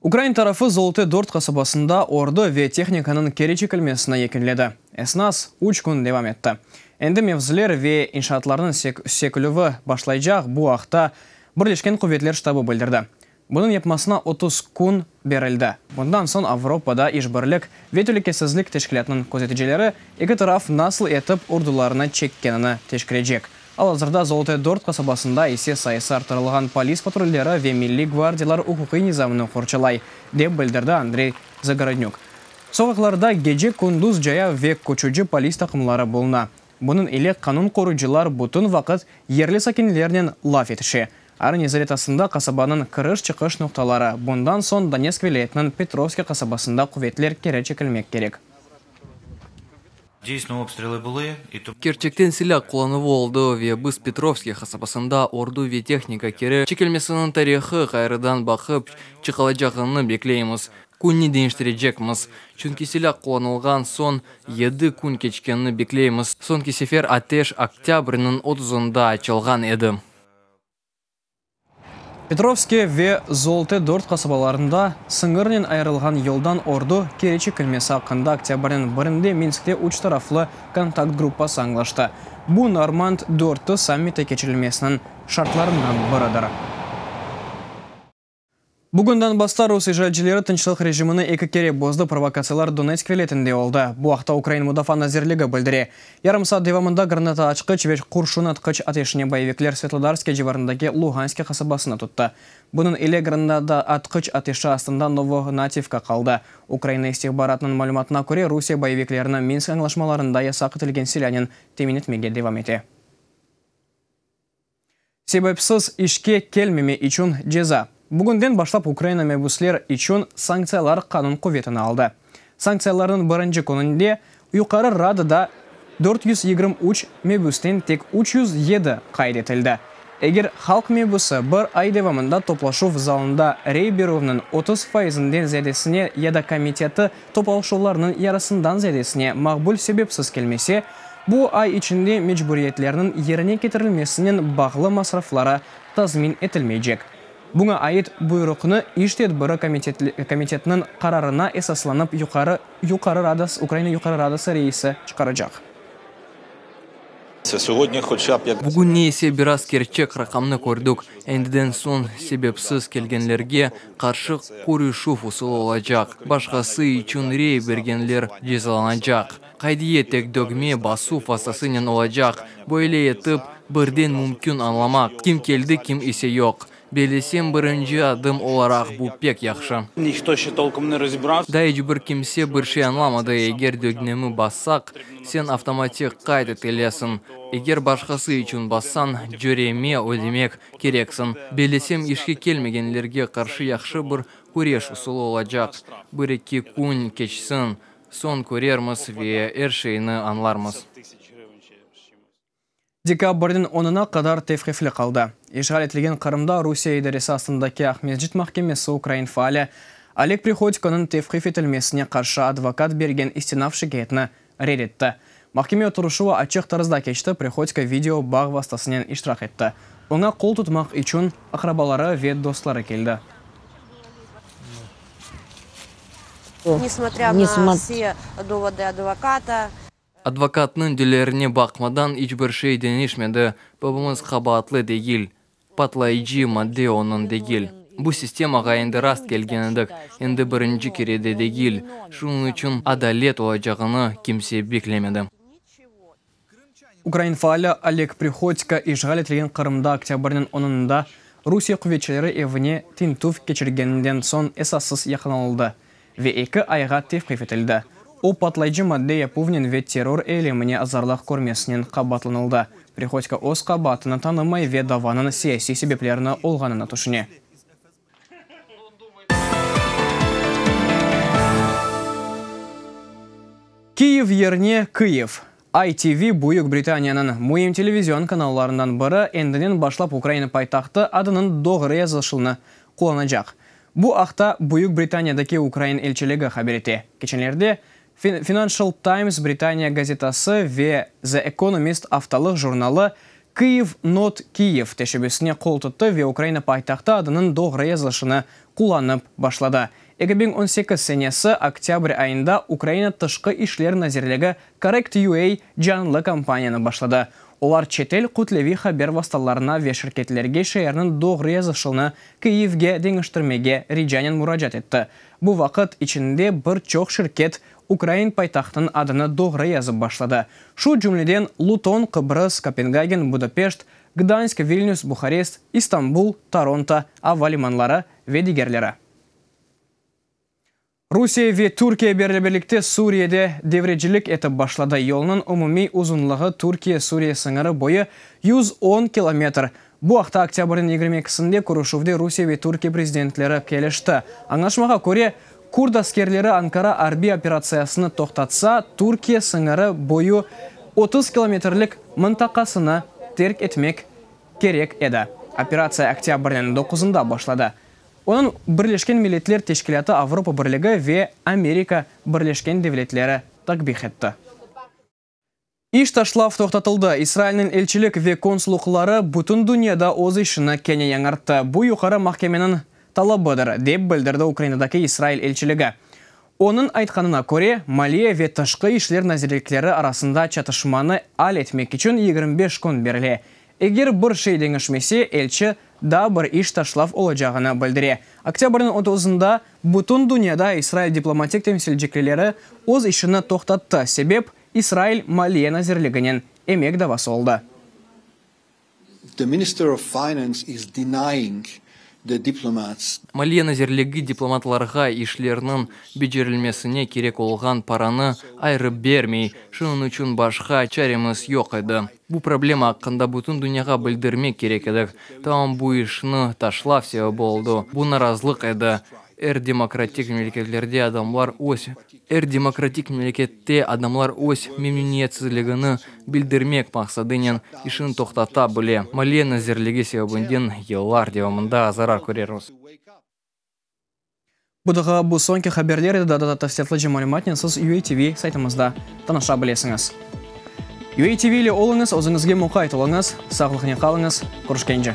Ukrain tarafı Zolote Dört qasabasında ordu ve tehnikanıñ keri çekilmesini yekinledi. Esnas üç kün devam etti. Endi mevziler ve inşaatlarnıñ sökülüvi başlaycaq, bu aqta Birleşken quvetler ştabı bildirdi. Bunıñ yapmasına otuz kün berildi. Bundan soñ Avropada İşbirlik ve Telükesizlik Teşkilâtınıñ közeticileri eki taraf nasıl etip ordularını çekkenini teşkilecek, Al-azırda Zolotoye dört qasabasında ise sayısı arttırılğan polis patrulleri ve milliy gvardiyalar uquqiy nizamnı qorçalay, dep bildirdi Andrey Zagorodnük. Soqaqlarda gece-kündüz caya ve köçüci polis taqımları buluna. Bunıñ ile qanun qoruyıcılar bütün vaqıt yerli sakinlernen laf etişe. Arın izoletasında qasabanıñ kiriş-çıqış noqtaları, bundan soñ Donetsk vilâyetiniñ Petrovskiy qasabasında quvetler keri çekilmek kerek. Kerçekten silâ qullanuvı oldı ve biz Petrovskiy hasabasında ordu ve tehnika keri çekilmesiniñ tarihı ğayrıdan baqıp çıqılacağını bekleymiz. Künni deñiştirecekmiz, çünki silâ qullanılğan soñ yedi kün keçkenini bekleymiz, soñki sefer ateş oktâbrniñ otuzında açılğan edi. Petrovske ve Zolte dört qasabalarında sıñırnen ayırılğan yoldan ordu keri çekilmesi aqqında oktâbrniñ birinde Minskte üç taraflı kontakt gruppası añlaştı. Bu Normand dörtü sammiti keçirilmesiniñ şartlarından biridir. Bugünden basla rus işğalcileri tınçlıq rejimini eki kere bozdı, provokatsiyalar Donetsk vilâyetinde oldı, bu aqta ukrain Mudafaa nazirligi bildire. Yarım saat devamında granata açqıç ve qurşun atqıç ateşine boyevikler Svetlodarskiye civarındaki Luhanskiye qasabasını tuttı. Bunıñ ile granata atqıç ateşi astında Novohnativka qaldı. Ukraina istihbaratınıñ malümatına köre, Rusiye boyeviklerini Minsk añlaşmalarında yasaq etilgen silânen temin etmege devam ete. Sebepsiz işke kelmeme içün ceza. Bugünden başlap Ukraina mebüsler içün sanktsiyalar qanun quvetini aldı. Sanktsiyalarnıñ birinci kününde Yuqarı Radada dört yüz yigirmi üç mebüsten tek üç yüz yedi qayd etildi. Eger halq mebüsi bir ay devamında toplaşuv zalında rey berüvniñ otuz faizinden ziyadesine ya da komiteti Toplaşuvlarnıñ yarısından ziyadesine maqbul sebepsiz kelmese, bu ay içinde mecburiyetlerniñ yerine ketirilmesinen bağlı masrafları tazmin etilmeycek. Buña ait buyruqnı İş tedbiri komitetiniñ qararına esaslanıp Yuqarı Rada Ukraina Yuqarı Radası reisi çıqaracaq. Bugünne ise biraz kerçek raqamnı kördik, endiden soñ sebepsiz kelgenlerge qarşı körüşüv usulı olacaq, başqası içün rey bergenler cezalanacaq. Qaydiye tek dögme basuv vastasınen olacaq, böyle etip, birden mümkün añlamaq, kim keldi, kim ise yoq. Belesem, birinci adım olaraq bu pek yahşı. Da iç bir kimse bir şey añlamadı, eger dögnemi bassaq, sen avtomatik qayd etilesiñ, eger başqası içün bassañ, cöreme ödemek kereksiñ. Belesem, işke kelmegenlerge qarşı yahşı bir küreş usulı olacaq. Bir-eki kün keçsin, soñ körermiz ve er şeyni añlarmız. Dekabrniñ onına qadar tevqifli qaldı. İşğal etilgen Qırımda Rusiye idaresi astındaki Aqmescit mahkemesi ukrain faali Oleg Prihodikonıñ tevqif etilmesine qarşı advokat bergen istinaf şikâyetini red etti. Mahkeme oturışuvı açıq tarzda keçti, Prihodko video bağ vastasınen iştirak etti. Oña qol tutmaq içün aqrabaları ve dostları keldi. Advokatnıñ dilerine baqmadan iç bir şey deñişmedi. Babamız qabaatlı degil. Patlayıcı madde onıñ degil. Bu sistemağa endi rast kelgen edik, endi birinci kere de degil. Şunıñ içün adalet olacağını kimse beklemedi. Ukrain faali Oleg Prihodko işğal etilgen Qırımda oktâbrniñ onında Rusiye quvetçileri evine tintüv keçirgeninden soñ esassız yaqalanıldı. ve eki ayğa tevqif etildi. O, patlayıcı madde yapuvnen ve terror eylemine azarlıq körmesinen qabaatlanıldı. Prihodko öz qabaatını tanımay ve davanıñ siyasiy sebeplerni olğanını tüşüne. Kyiv yerine Kıyiv, ITV Büyük Britaniyanıñ müim televizion kanallarından biri endinen başlap Ukraina paytahtı adınıñ doğru yazılışılını qullanacaq. Bu aqta Büyük Britaniyadaki ukrain elçiligi haber ete. Keçenlerde Financial Times Britaniya gazetası ve The Economist aftalıq jurnalı Kyiv Not Kyiv teşebbüsine qol tuttı ve Ukraina paytahtı adınıñ doğru yazılışını qullanıp başladı. Eki biñ on sekiz senesi oktâbr ayında Ukraina Tışqı işler nazirligi Correct.ua canlı kampaniyanı başladı. Olar çetel kütleviy haber vastalarına ve şirketlerge şeerniñ doğru yazışılını Kyivge deñiştirmege ricanen muracaat etti. Bu vaqıt içinde bir çoq şirket ukrain paytahtınıñ adını doğru yazıp başladı, şu cümleden Luton, Qıbrıs, Kopengagen, Budapeşt, Gdansk, Vilnüs, Buharest, İstanbul, Toronto ava limanları ve digerleri. Rusiye ve Türkiye birlebirlikte Suriyede devrecilik etip başladı. Yolnıñ umumiy uzunlığı Türkiye-Suriye sıñırı boyu yüz on kilometr. Bu aqta oktâbrniñ yigirmi ekisinde körüşüvde Rusiye ve Türkiye prezidentleri kelişti. Añlaşmağa köre, kürt askerleri Ankara arbiy operatsiyasını toqtatsa, Türkiye sıñırı boyu otuz kilometrlik mıntaqasını terk etmek kerek edi. Operatsiya oktâbrniñ doquzında başladı. Onıñ Birleşken Milletler Teşkilâtı, Avropa Birligi ve Amerika Birleşken Devletleri takbih etti. İş taşlav toqtatıldı. İsrailniñ elçilik ve konsullıqları bütün dünyada öz işini kene yañarttı. Bu Yuqarı mahkemeniñ talabıdır, dep bildirdi Ukrainadaki İsrail elçiligi. Onıñ aytqanına köre, maliye ve tışqı işler nazirlikleri arasında çatışmanı al etmek içün yigirmi beş kün berile, Eger bir şey deñişmese, elçi daa bir iş taşlav olacağını bildire. Oktâbrniñ otuzında bütün dünyada İsrail diplomatik temsilciklileri öz işini toqtattı, sebep, İsrail Maliye nazirliginen emek davası oldı. Maliye nazirligi diplomatlarğa işlerniñ becerilmesine kerek olğan paranı ayrı bermey, şunıñ içün başqa çaremiz yoq edi. Bu problema aqqında bütün dünyağa bildirmek kerek edi. Tam bu işni taşlav sebebi oldu. Bu narazlıq edi. Er demokratik memleketlerde adamlar öz, er demokratik memlekette adamlar öz memnüniyetsizligini bildirmek maqsadınen işini toqtata bile. Maliye nazirligi sebebinden yıllar devamında zarar köreris. Budağa bu soñki haberler edi, daa da tafsilâtlıca malümatnen siz UATV saytımızda tanışa bilesiñiz. UATV ile oluñız, özüñizge muqayt oluñız, sağlıqnen qalıñız, körüşkence!